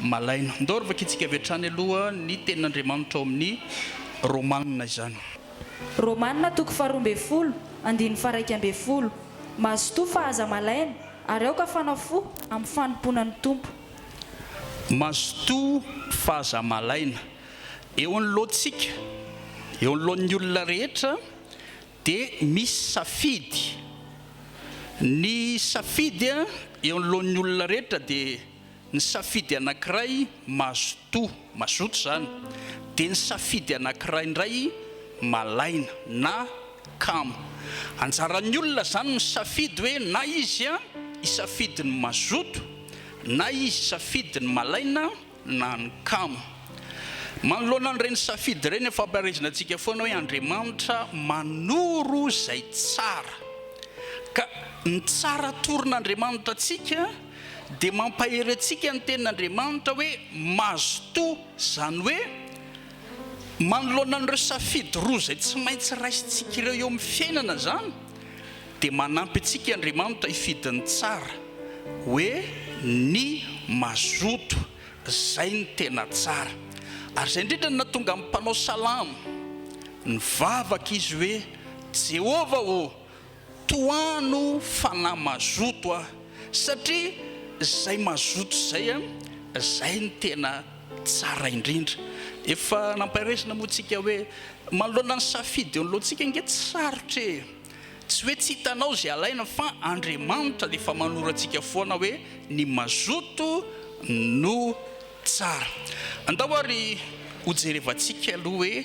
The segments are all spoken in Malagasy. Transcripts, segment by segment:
Malaina. Ndao ry vakintsika avy hatrany aloha ny tenin'Andriamanitra ao amin'ny Romanina izany. Romanina toko faharoa ambin'ny folo, andininy faharaika ambin'ny folo. Mazotoa fa aza malaina, ary aoka fanao fo amin'ny fanompoana ny Tompo. Mazotoa fa aza malaina. Eo anoloantsika, eo anoloan'ny olona rehetra dia misy safidy. Ny safidy eo anoloan'ny olona rehetra dia. Ny safidy anankiray mazotoa, mazoto izany, dia ny safidy anankiray indray malaina na kamo. Anjaran'ny olona izany misafidy hoe na izy hisafidy ny mazoto, na izy hisafidy ny malaina na ny kamo. Manoloana an'ireny safidy ireny dia fampaherezana antsika foana hoe Andriamanitra manoro izay tsara. Ka ny tsara atoron'Andriamanitra antsika. Dia mampahery antsika ny tenin'Andriamanitra hoe mazotoa, izany hoe manoloana an'ireo safidy roa izay tsy maintsy raisintsika ireo eo amin'ny fiainana izany dia manampy antsika Andriamanitra hifidy ny tsara hoe ny mazoto, izay no tena tsara. Ary izay indrindra no nahatonga ny mpanao salamo nivavaka izy hoe Jehovah ô, Tohano fanahy mazoto a! Satria zay mazoto zay a, zay no tena tsara indrindra. Efa nampairaisina moa tsika hoe manoloana ny safidy eo anoloantsika ange tsy sarotra e! Tsy hoe tsy hitanao zay alaina fa Andriamanitra efa manoro antsika foana hoe ny mazoto no tsara. Andao ary hojerevantsika aloha hoe.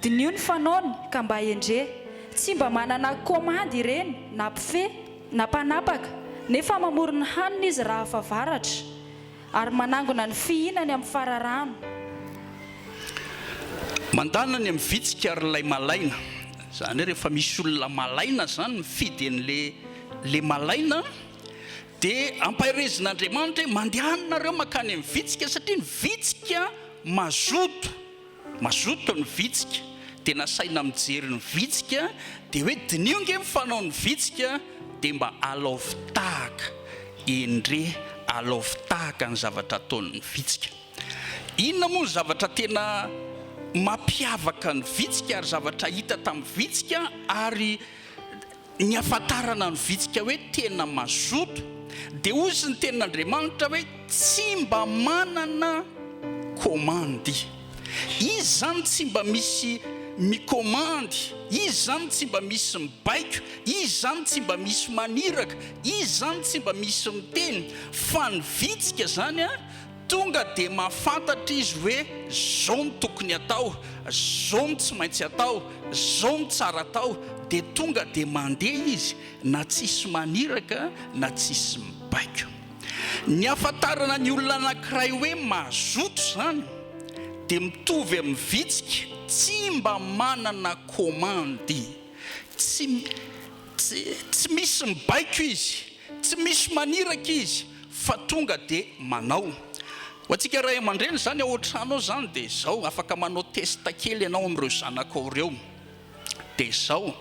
Diniho ny fanaony ka mba endrey. Tsy mba manana komandy ireny na pfe na mpanapaka nefa mamory ny hanina izy raha fa varatra ary manangona ny fihinany amin'ny fararano. Mandana ny amin'ny vitsika ary ilay malaina. Izany hoe rehefa misy olona malaina izany mifidy an'ilay malaina dia ampaherezin'Andriamanitra hoe mandehanina nareo mankany amin'ny vitsika satria ny vitsika mazoto. Mazoto ny vitsika dia nasaina mijery ny vitsika dia hoe diniho nge ny fanao ny vitsika dia mba alaovy tahaka endrey alaovy tahaka ny zavatra ataony ny vitsika inona moa ny zavatra tena mapiavaka ny vitsika ary zavatra hita tamin'ny vitsika ary Ny hahafantarana ny vitsika hoe tena mazoto dia hozy ny tenin'Andriamanitra hoe tsy mba manana komandy. Izy izany tsy mba misy mikomandy, Izy izany tsy mba misy mibaiko, Izy izany tsy mba misy maniraka, Izy izany tsy mba misy miteny, fa ny vitsika izany Tonga dia mahafantatra izy hoe zao no tokony atao, zao no tsy maintsy atao, zao no tsara atao, dia tonga dia mandeha izy na tsisy maniraka na tsisy mibaiko. Ny ahafantarana ny olona anankiray hoe mazoto izany dia mitovy amin'ny vitsika tsy mba manana komandy, tsy tsy misy mibaiko izy Tsy misy maniraka izy fa tonga dia manao. Ho antsika ray aman-dreny izany ao an-trano ao izany dia izao, afaka manao test kely ianao amin'ireo zanakao ireo. Dia izao,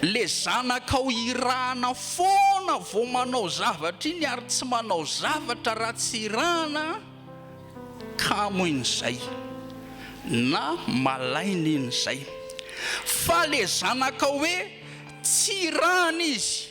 ilay zanakao irahana foana vao manao zavatra iny ary tsy manao zavatra raha tsy irahana kamo iny izay na malaina iny izay. Fa ilay zanakao hoe tsy irahana izy,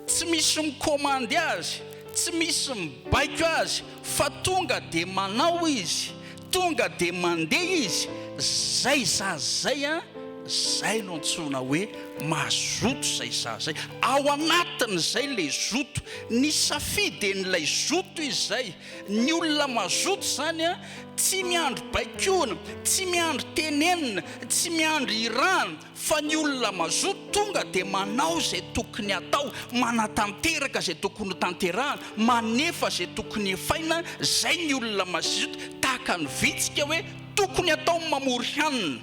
Tsy misy mikomandy azy, tsy misy mibaiko azy fa tonga dia manao izy, tonga dia mandeha izy, zay zaza zay an, zay no antsoina hoe mazoto zay zaza zay, ao anatin'izay le zoto, ny safiden'ilay zoto izy zay, ny olona mazoto zany an, tsy miandry baikoina, tsy miandry tenenina, tsy miandry irahana, Fa ny olona mazoto tonga dia manao izay tokony hatao, manatanteraka izay tokony ho tanterahana, manefa izay tokony efaina, izay ny olona mazizoto, tahaka ny vitsika hoe tokony hatao ny mamory hanina.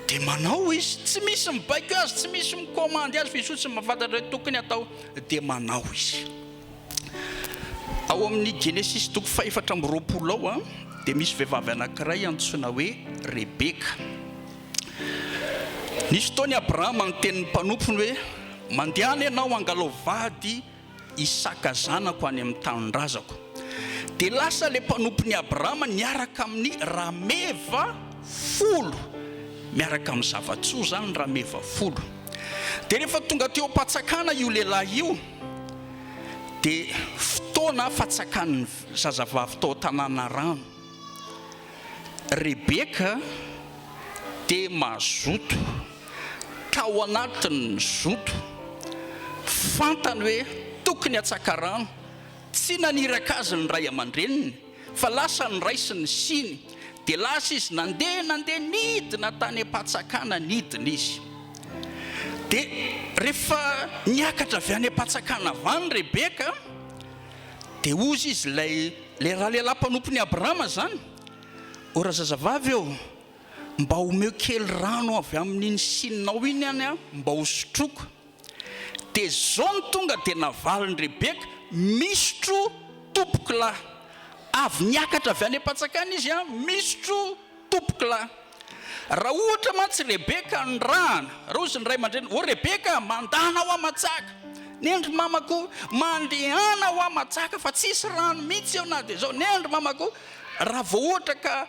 Dia manao izy, tsy misy mibaiko azy, tsy misy mikomandy azy fa izy fotsiny no mahafantatra hoe tokony hatao dia manao izy. Ao amin'ny Genesisy toko fahefatra amby roapolo ao dia misy vehivavy anankiray antsoina hoe Rebeka. Nisy fotoana i Abrahama niteny ny mpanompony hoe, Mandehana ianao hangalao vady Isaka zanako any amin'ny tanindrazako. Dia lasa ilay mpanompon'i Abrahama niaraka amin'ny rameva folo. Miaraka amin'ny zava-tsoa izany ny rameva folo. Dia rehefa tonga teo am-patsakana io lehilahy io, dia fotoana fatsakan'ny zazavavy tao Tanànarano. Rebeka dia mazoto, tao anatin'ny zoto, fantany hoe tokony hatsaka rano, tsy naniraka azy ny ray aman-dreniny fa lasa niraisiny ny siny, dia lasa izy nandeha nandeha nidina tany am-patsakana nidina izy, dia rehefa niakatra avy any am-patsakana avy any Rebeka, Dia hozy izy, Ilay, ilay ralehilahy mpanompon'i Abrahama izany? O ry zazavavy ô, mba omeo kely rano avy amin'iny sininao iny any aho mba hosotroiko. Dia izao no tonga dia navalin'i Rebeka, Misotro, tompokolahy. Avy niakatra avy any am-pantsakana izy, Misotro, Tompoko lahy, raha ohatra mantsy Rebeka nirahana, Rozy ny ray aman-dreniny, O Rebeka, mandana ho aman-tsaka, nendry mamako, mandehana ho aman-tsaka fa tsisy rano mihitsy eo na dia izao, nendry mamako, raha vao ohatra ka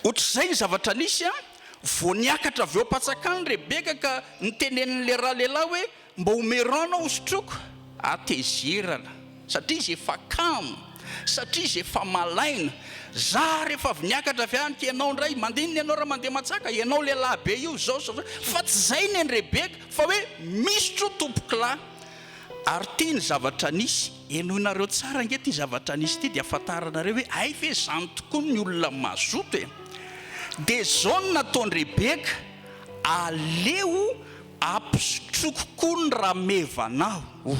ohatr'izay ny zavatra nisy an, vao niakatra avy eo am-patsakany Rebeka ka niteneniny lehilahy lehilahy hoe, Mba ho merana ho sotroiko hatezerana satria izy efa kamo satria izy efa malaina za rehefa avy niakatra avy any k'ianao ndray mandinina ianao ra mandeha matsaka ianao lehilahy be io zao sy zao fa tsy zay neny rebeka fa hoe misotro tompokolahy ary ty ny zavatra nisy henoinareo tsara nge ty zavatra nisy ty dia afantaranareo hoe hay ve zany tokoa ny olona mazoto e dia zao no nataony rebeka aleo Ampisotroko koa ny rameva anao, o.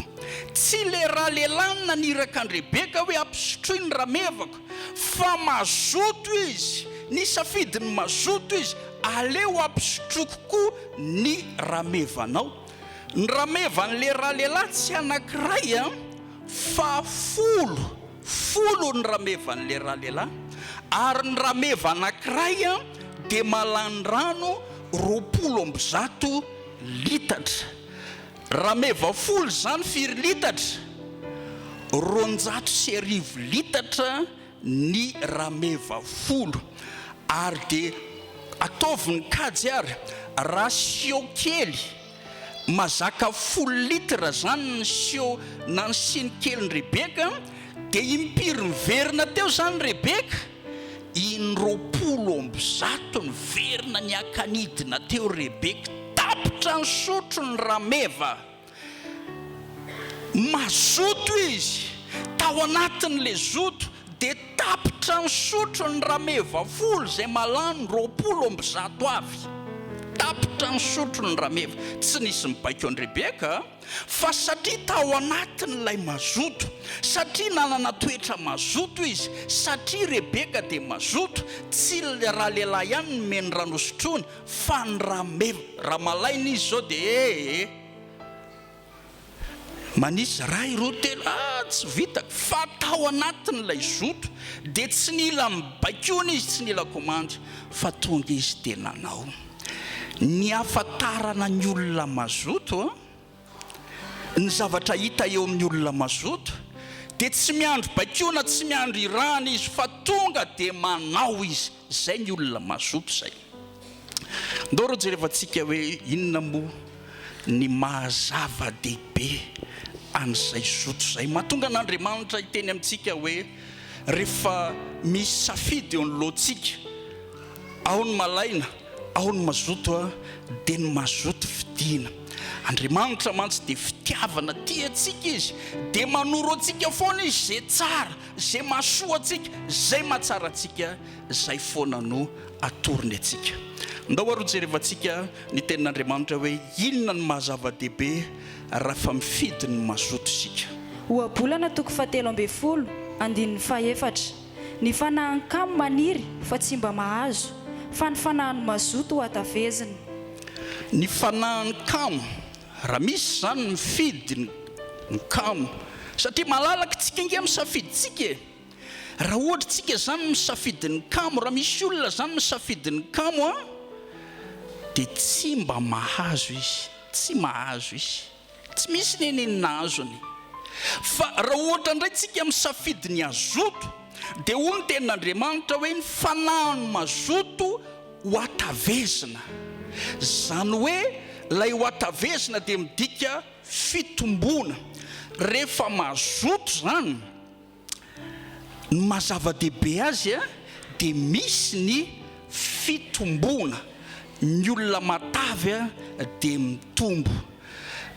Tsy le ra lehilahy naniraka an-dRebeka hoe ampisotroy ny ramevako, fa mazoto izy, nisafidy ny mazoto izy, aleo ampisotroko koa ny rameva anao. Ny ramevan'le ra lehilahy tsy anankiray an, fa folo. Folo ny ramevan'ilay ralehilahy, ary ny rameva anankiray dia malan-drano roapolo amby zato litatra. Rameva folo izany firy litatra? Roanjato sy arivo litatra ny rameva folo. Ary dia ataovy ny kajy ary, ratio kely. Mazaka folo litre zany ny siô na ny siny keliny Rebeka dia impiry miverina teo zany Rebeka? In roapolo amby zato miverina niakanidina teo Rebeka tapitra ny sotro ny rameva mazoto izy tao anatin le zoto Dia tapitra ny sotro ny rameva folo izay mahalany roapolo amby zato avy. Tapitra ny sotro ny rameva. Tsy nisy nibaiko an'i Rebeka, fa satria tao anatiny ilay mazoto, satria nanana toetra mazoto izy, satria Rebeka dia mazoto, tsy ilay ralehilahy ihany nomeny ny ra nosotroiny, fa ny rameva. Raha malaina izy izao dia ee. Manisy iray, roa, telo, ah tsy vitako fa tao anatin'ilay zoto dia tsy nila mibaikoana izy, tsy nila komandy fa tonga izy dia nanao. Ny hahafantarana ny olona mazoto, ny zavatra hita eo amin'ny olona mazoto dia tsy miandry baikoana, tsy miandry irahana izy fa tonga dia manao izy. Zay ny olona mazoto zay. Ndao rô jerevantsika hoe inona moa ny maha zava-dehibe an'izay zoto zay mahatonga an'Andriamanitra hiteny amintsika hoe rehefa misy safidy eo anoloantsika ao ny malaina ao ny mazoto dia ny mazoto fidiana. Andriamanitra mantsy dia fitiavana tia antsika izy dia manoro antsika foana izy izay tsara Izay mahasoa antsika, izay mahatsara antsika, izay foana no atorony antsika. Ndao ary hojerevantsika ny Tenin'Andriamanitra hoe inona no maha-zava-dehibe raha fa mifidy ny mazoto isika. Ohabolana toko fahatelo ambin'ny folo, andininy fahefatra. Ny fanahin'ny kamo maniry fa tsy mba mahazo, fa ny fanahin'ny mazoto hohatavezina. Ny fanahin'ny kamo Raha misy izany mifidy ny kamo satria malalaka tsika ange misafidy tsika e! Raha ohatra tsika izany misafidy ny kamo, raha misy olona izany misafidy ny kamo an! Dia tsy mba mahazo izy, tsy mahazo izy, tsy misy nenenina azony. Fa raha ohatra indray tsika misafidy ny hazoto dia hoy ny tenin'Andriamanitra hoe ny fanahy no mazoto, Hohatavezina. Izany hoe ilay hohatavezina dia midika fitomboana. Rehefa mazoto izany, ny maha zava-dehibe azy dia misy ny fitomboana. Ny olona matavy dia mitombo.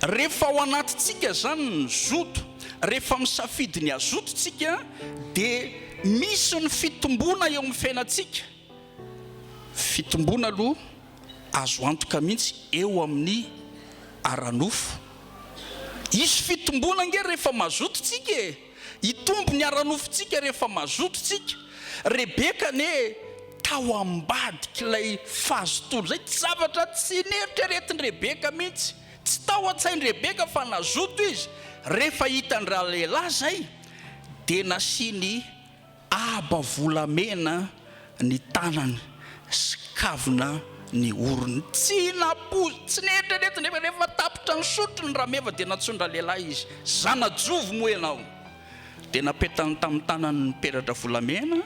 Rehefa ao anatintsika izany ny zoto, rehefa misafidy ny hazoto isika dia misy ny fitomboana eo amin'ny fiainantsika. Fitomboana aloha azo antoka mihitsy eo amin'ny ara-nofo. Hisy fitomboana ange rehefa mazoto tsika e! Hitombo ny ara-nofontsika rehefa mazoto tsika. Rebeka anie tao ambadik'ilay fazotoana izay. Tsy zavatra tsy neritreretin-dRebeka mihitsy. Tsy tao an-tsain-dRebeka fa nazoto izy. Rehefa hitan-dralehilahy izay dia nasiany. Aba volamena ny tanany sy kavina ny orony. Tsy nampoizina, tsy neritreretina nefa rehefa tapitra nisotro ny rameva dia nantsoin-dralehilahy izy, Zanajovo moa ianao? Dia napetany tamin'ny tanany ny peratra volamena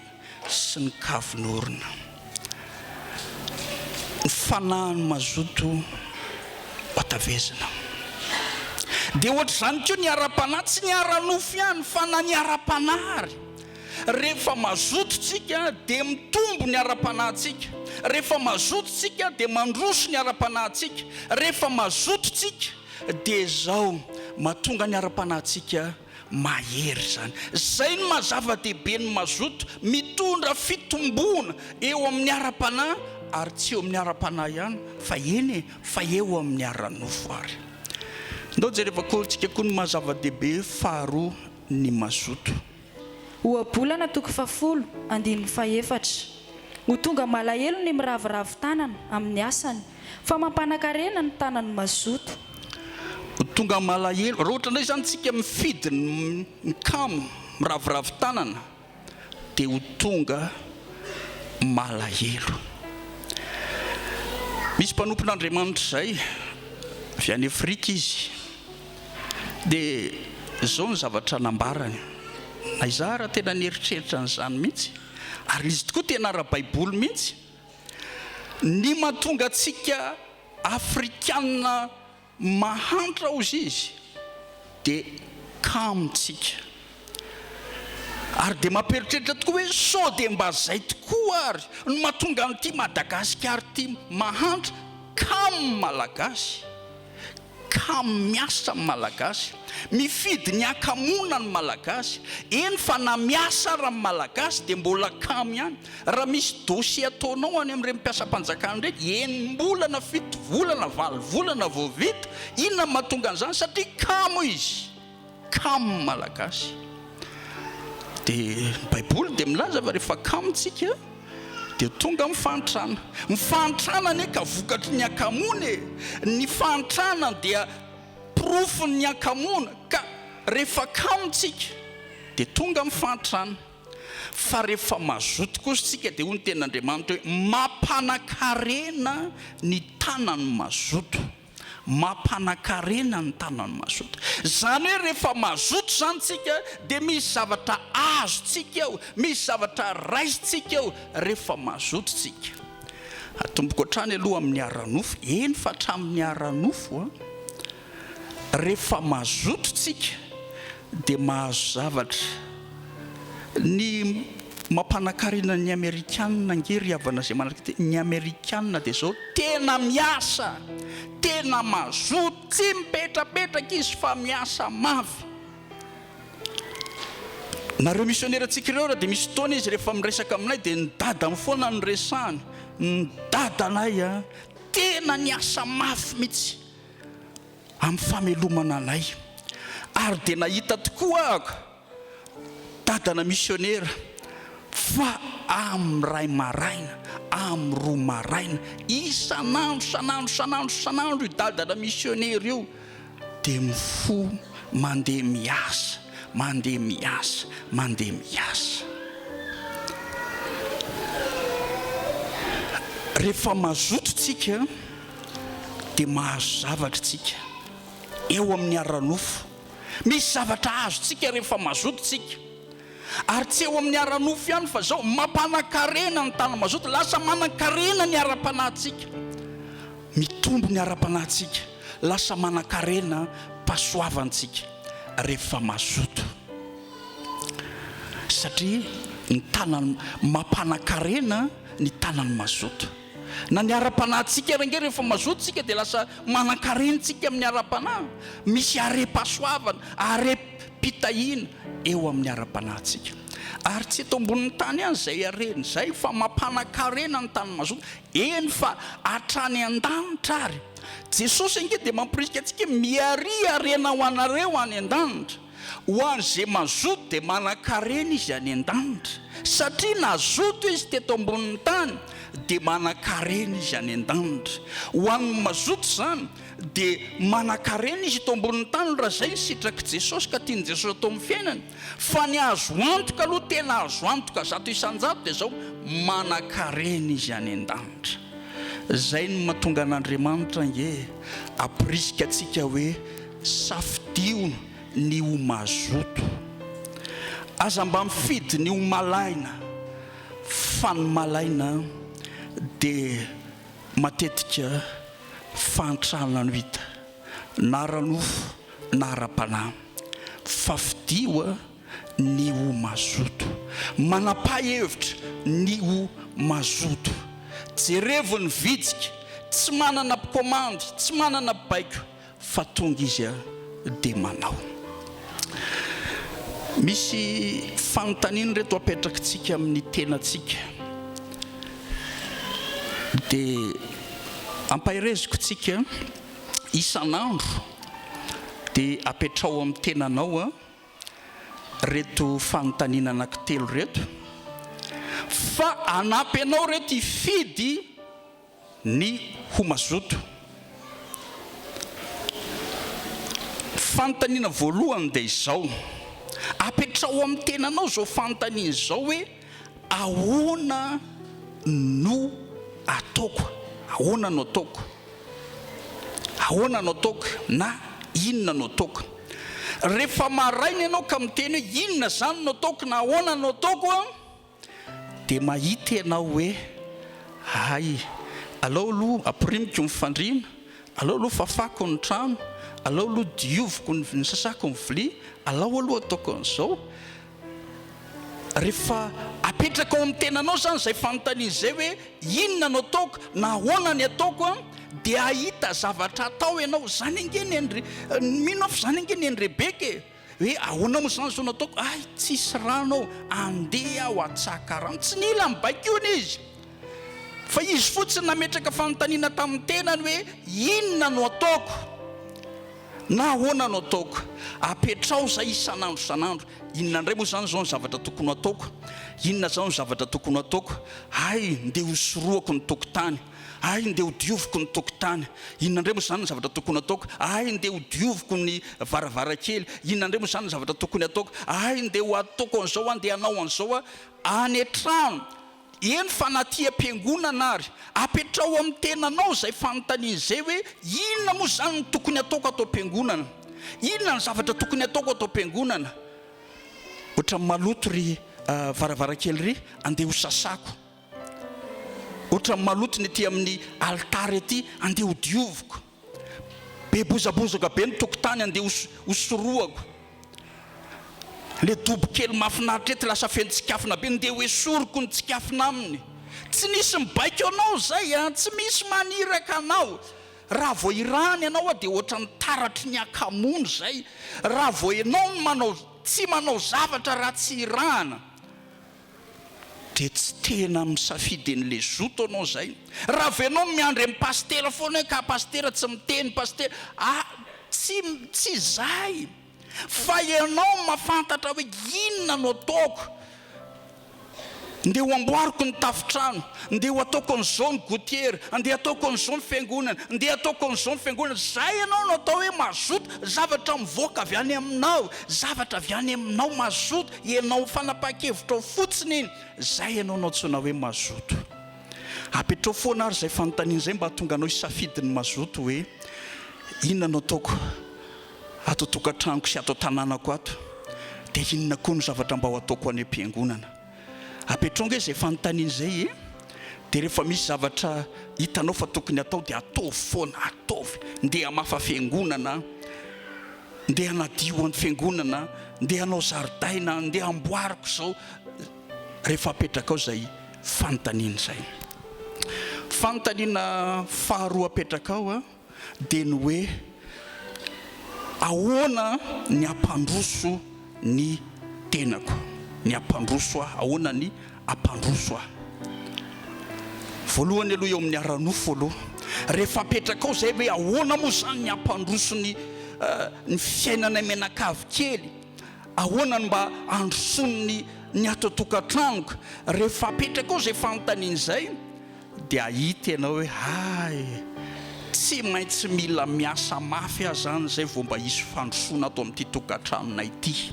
sy ny kavin'orona. ny fanahin'ny mazoto hatavezina. Dia ohatr'izany koa ny ara-panahy, tsy ny ara-nofo ihany fa na ny ara-panahy ary. Rehefa mazoto isika dia mitombo ny ara-panahintsika, rehefa mazoto isika dia mandroso ny ara-panahintsika, rehefa mazoto isika dia izao mahatonga ny ara-panahintsika Mahery izany. Izay no maha zava-dehibe ny mazoto, mitondra fitomboana eo amin'ny ara-panahy ary tsy eo amin'ny ara-panahy ihany fa eny e, fa eo amin'ny ara-nofo ary. Ndao jereva korintsika koa ny maha zava-dehibe faharoa ny mazoto. Ohabolana toko fahafolo, andininy fahefatra. Ho tonga malahelo ny miraviravy tanana amin'ny asany Fa mampanakarena ny tanan'ny mazoto. Ho tonga malahelo. Raha ohatra indray izany isika mifidy ny mikamo, miraviravy tanana, dia ho tonga malahelo. Misy mpanompon'Andriamanitra izay, avy any Afrika izy, dia izao ny zavatra nambarany, na izaho ary tena nieritreritra an'izany mihitsy, ary izy tokoa tena ara-baiboly mihitsy. Ny mahatonga antsika Afrikana mahantra hozy izy dia kamontsika. Ary dia mampieritreritra tokoa hoe sao dia mba izay tokoa ary no mahatonga an'ity Madagasikara ity mahantra kamo Malagasy. Kamo miasa ny Malagasy, mifidy ny hakamoana ny Malagasy, eny fa na miasa ara ny Malagasy dia mbola kamo ihany, raha misy dossier ataonao any amin'ireny mpiasam-panjakana ireny, enim-bolana, fito volana, valo volana vao vita, inona no mahatonga an'izany? Satria kamo izy. Kamo malagasy. Dia ny baiboly dia milaza fa rehefa kamo tsika dia tonga ny fahantrana. Ny fahantrana anie ka vokatry ny hakamoana e! Ny fahantrana dia porofon'ny hakamoana. Ka rehefa kamo tsika dia tonga ny fahantrana. Fa rehefa mazoto kosa tsika dia hoy ny tenin'Andriamanitra hoe, Mampanakarena ny tanan'ny mazoto. Mampanakarena ny tanan'i mazoto. Izany hoe rehefa mazoto izany isika dia misy zavatra azontsika eo, misy zavatra raisintsika eo rehefa mazoto isika. Atomboko hatrany aloha amin'ny ara-nofo, eny fa hatramin'ny ara-nofo, rehefa mazoto isika, dia mahazo zavatra. Ny mampanakarena ny amerikanina ange ry havana izay manaraka ity, ny amerikanina dia izao, tena miasa, tena mazoto, tsy mipetrapetraka izy fa miasa mafy. Nareo misionera antsika ireo ary dia misy fotoana izy rehefa miresaka aminay dia ny dadany foana no resahany, ny dadanay an, tena niasa mafy mihitsy. amin'ny famelomana anay. Ary dia nahita tokoa aho dadana misionera fa amin'ny ray maraina, amin'ny roa maraina, isan'andro, isan'andro, isan'andro, isan'andro io dadana misionera io dia mifoha mandeha miasa, mandeha miasa, mandeha miasa. Rehefa mazoto tsika. dia mahazo zavatra isika eo amin'ny ara-nofo. Misy zavatra azontsika rehefa mazoto isika. Ary tsy eo amin'ny ara-nofo ihany fa izao, mampanan-karena ny tany mazoto, lasa manan-karena ny ara-panahintsika. Mitombo ny ara-panahintsika, lasa manan-karena pasoavantsika rehefa mazoto. Satria ny tanan'ny, mampanan-karena ny tanan'ny mazoto. Na ny ara-panahintsika ary ange rehefa mazoto tsika dia lasa manan-karenitsika amin'ny ara-panahy. Misy arem-pahasoavana, arem-pitahiana eo amin'ny ara-panahintsika. Ary tsy eto ambonin'ny tany ihany izay harena izay fa mampanan-karena ny tany mazoto, eny fa hatrany an-danitra ary. Jesosy ange dia mamporisika antsika hoe, Miaria harena ho anareo any an-danitra. Ho an'izay mazoto dia manan-karena izy any an-danitra, satria nazoto izy teto ambonin'ny tany, dia manan-karena izy any an-danitra. Ho an'ny mazoto izany dia manan-karena izy eto ambonin'ny tany raha izay ny sitrak'i Jesosy ka tian'i Jesosy atao amin'ny fiainany. Fa ny azo antoka aloha, tena azo antoka zato isan-jato dia izao, manan-karena izy any an-danitra. Izay no mahatonga an'Andriamanitra ange hampirisika antsika hoe. Safidio ny ho mazoto. Aza mba mifidy ny ho malaina fa ny malaina dia matetika fahantrana no hita na ara-nofo na ara-panahy. Fafidio ny ho mazoto. Manam-pahhevitra ny ho mazoto. Jerevo ny vitsika. Tsy manana mpikomandy, tsy manana mpibaiko. Fa tonga izy dia manao. Misy fanontaniana ireto apetrakitsika amin'ny tenantsika. Dia ampahereziko tsika isan'andro dia apetraho amin'ny tenanao ireto fanontaniana anankitelo ireto fa hanampy anao ireto hifidy ny ho mazoto. Fanontaniana voalohany dia izao, apetraho amin'ny tenanao izao fanontaniana izao hoe, ahoana no ataoko? Ahoana no ataoko? Ahoana no ataoko? na inona no ataoko? Rehefa maraina ianao ka miteny hoe inona izany no ataoko na ahoana no ataoko? Dia mahita ianao hoe hay, aleo aloha ampirimiko ny fandriana, aleo aloha fafako ny trano, aleo aloha dioviko ny, sasako ny vilia, alao aloha ataoko an'izao. Rehefa apetraka ao amin'ny tenanao izany izay fanontaniana izay hoe inona no ataoko na ahoana ny ataoko an, dia hahita zavatra atao ianao. Izany ange ny an'i, mino aho fa izany ange ny an'i Rebeka e. Hoe ahoana moa izany izao no ataoko? Hay, tsisy rano ao, andeha aho hatsaka rano. Tsy nila nibaikoina izy, fa izy fotsiny nametraka fanontaniana tamin'ny tenany hoe, Inona no ataoko? na Ahoana no ataoko? Apetraho izay isan'andro isan'andro. Inona indray moa izany izao no zavatra tokony ho ataoko? Inona izany no zavatra tokony ho ataoko? Hay, ndeha hosorohako ny tokotany. Hay ndeha ho dioviko ny tokotany. Inona indray moa izany ny zavatra tokony hataoko? Hay ndeha ho dioviko ny varavarankely. Inona indray moa izany ny zavatra tokony hataoko? Hay ndeha ho ataoko an'izao aho, ndeha hanao an'izao aho. Any an-trano, eny fa na aty am-piangonana ary. Apetraho amin'ny tenanao izay fanontaniana izay hoe, Inona moa izany ny tokony hataoko ato am-piangonana? Inona ny zavatra tokony hataoko ato am-piangonana? Ohatran'ny maloto ry varavarankely ry, andeha hosasako. Ohatran'ny maloto ny ety amin'ny alitara ety, andeha ho dioviko. Be bozabozoka be ny tokotany, andeha ho sorohako. Ilay dobo kely mahafinaritra ety lasa feno tsikafona be, ndeha ho esoriko ny tsikafona aminy. Tsy misy mibaiko anao izay an! Tsy misy maniraka anao! Raha vao irahany ianao an, dia ohatran'ny taratry ny akamoana izay. Raha vao ianao no manao, tsy manao zavatra raha tsy irahana. Dia tsy tena misafidy ny le zoto anao zay. Raha avy anao miandry an'i Pasitera foana hoe ka Pasitera tsy miteny Pasitera a! tsy tsy izay fa ianao mafantatra hoe inona no ataoko, ndeha ho amboariko ny tafontrano, ndeha ho ataoko an'izao ny gotiera, ndeha ataoko an'izao ny fiangonana, ndeha ataoko an'izao ny fiangonana, zay ianao no atao hoe mazoto, zavatra mivoaka avy any aminao, zavatra avy any aminao mazoto. Ianao fanapahan-kevitrao fotsiny izay ianao no antsoina hoe mazoto. Apetraho foana ary izay fanontaniana izay mba hahatonga anao hisafidy ny mazoto hoe, inona no ataoko ato an-tokantranoko sy ato an-tanànako ato? Dia inona koa no zavatra mba ho ataoko any am-piangonana? Apetraho ange izay fanontaniana izay e! Dia rehefa misy zavatra hitanao fa tokony hatao dia ataovy foana, ataovy! Ndeha hamafa fiangonana! Ndeha hanadio any fiangonana, ndeha hanao zaridaina, ndeha hamboariko izao, rehefa apetrakao izay fanontaniana izay. Fanontaniana faharoa apetrakao dia ny hoe ahoana ny hampandroso ny tenako ny hampandroso ahy. Ahoana ny hampandroso ahy? Voalohany aloha eo amin'ny ara-nofo aloha. Rehefa apetrakao izay hoe ahoana moa izany ny hampandroso ny ny fiainanay mianakavy kely? Ahoana ny mba handrosoan'ny ny ato an-tokantranoko? Rehefa apetrakao izay fanontaniana izay Dia hahita ianao hoe hay, tsy maintsy mila miasa mafy aho izany izay vao mba hisy fandrosoana ato amin'ity tokantranonay ity.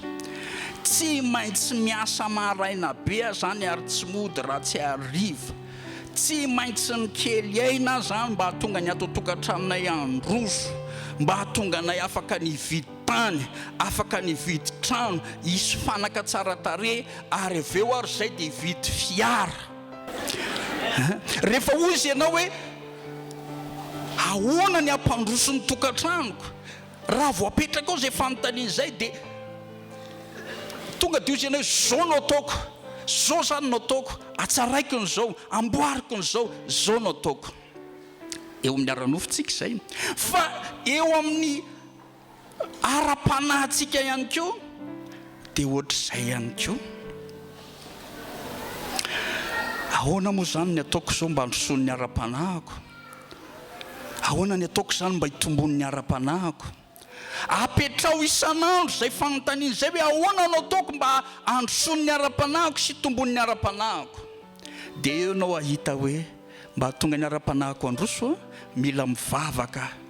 Tsy maintsy miasa maraina be aho izany ary tsy mody raha tsy hariva. Tsy maintsy mikely aina aho izany mba hahatonga ny ato an-tokantranonay handroso, mba hahatonga anay afaka ny hividy tany, afaka ny hividy trano, hisy fanaka tsara tarehy ary avy eo ary izay dia hividy fiara. Rehefa hoy izy ianao hoe, Ahoana ny hampandroso ny tokantranoko? Raha vao apetraka ao izay fanontaniana izay dia tonga dia hoy izy ianao hoe, Izao no ataoko, izao izany no ataoko, hatsaraiko ny izao, hamboariko ny izao, izao no ataoko. Eo amin'ny ara-nofontsika izay. Fa eo amin'ny. ara-panahintsika ihany koa dia ohatr'izay ihany koa. Ahoana moa izany ny ataoko izao mba handrosoany ny ara-panahiko? Ahoana ny ataoko izany mba hitomboany ny ara-panahiko? Apetraho isan'andro izay fanontaniana izay hoe ahoana no ataoko mba handrosoany ny ara-panahiko sy hitomboany ny ara-panahiko? Dia eo ianao hahita hoe mba hahatonga ny ara-panahiko handroso aho mila mivavaka aho.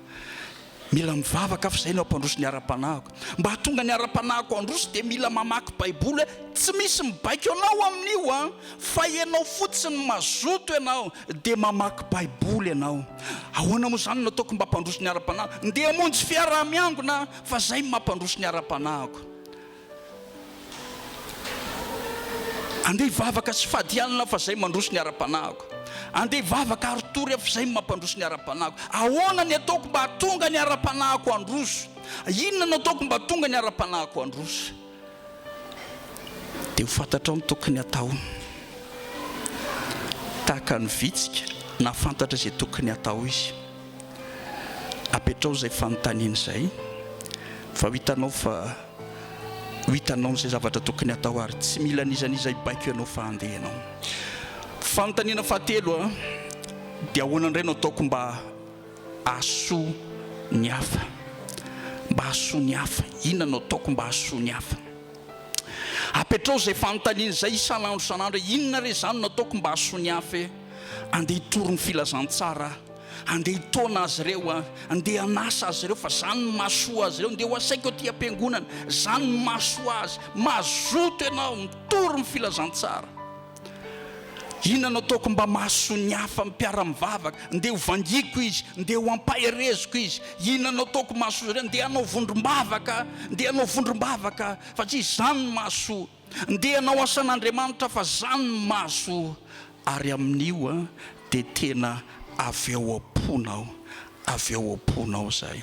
Mila mivavaka aho fa izay no hampandroso ny ara-panahiko. Mba hahatonga ny ara-panahiko handroso dia mila mamaky baiboly aho. Tsy misy mibaiko anao amin'io an! Fa ianao fotsiny mazoto ianao dia mamaky baiboly ianao. Ahoana moa izany no ataoko mba hampandroso ny ara-panahiko? Ndeha hamonjy fiaraha-miangona aho fa izay no mampandroso ny ara-panahiko. Andeha hivavaka sy fady hanina aho fa izay mandroso ny ara-panahiko. Andeha hivavaka ary tory aho fa izay mampandroso ny ara-panahiko. Ahoana ny ataoko mba hahatonga ny ara-panahiko handroso? Inona no ataoko mba hahatonga ny ara-panahiko handroso? Dia ho fantatrao ny tokony hatao. Tahaka ny vitsika, nahafantatra izay tokony hatao izy. Apetraho izay fanontaniana izay fa ho hitanao fa ho hitanao izay zavatra tokony hatao ary tsy mila n'iza n'iza hibaiko ianao fa handeha ianao. Fanontaniana fahatelo dia ahoana indray no ataoko mba hahasoa ny hafa? Mba hahasoa ny hafa. Inona no ataoko mba hahasoa ny hafa? Apetraho izay fanontaniana izay isan'andro isan'andro hoe inona re izany no ataoko mba hahasoa ny hafa e? Andeha hitory ny filazantsara aho. Andeha hitaona azy ireo aho, andeha hanasa azy ireo, fa zany no mahasoa azy ireo. Andeha ho asaiko aty am-piangonana, zany no mahasoa azy. Mazoto ianao, mitory ny filazantsara. Inona no ataoko mba mahasoa ny hafa amin'ny mpiara-mivavaka? Andeha ho vangiako izy, andeha ho ampahereziko izy. Inona no ataoko mahasoa azy ireo? Andeha hanao vondrom-bavaka aho, andeha hanao vondrom-bavaka aho, fa tsy izany no mahasoa. Ndeha hanao asan'Andriamanitra fa zany no mahazo ary amin'io dia tena avy ao am-ponao avy ao am-ponao zay.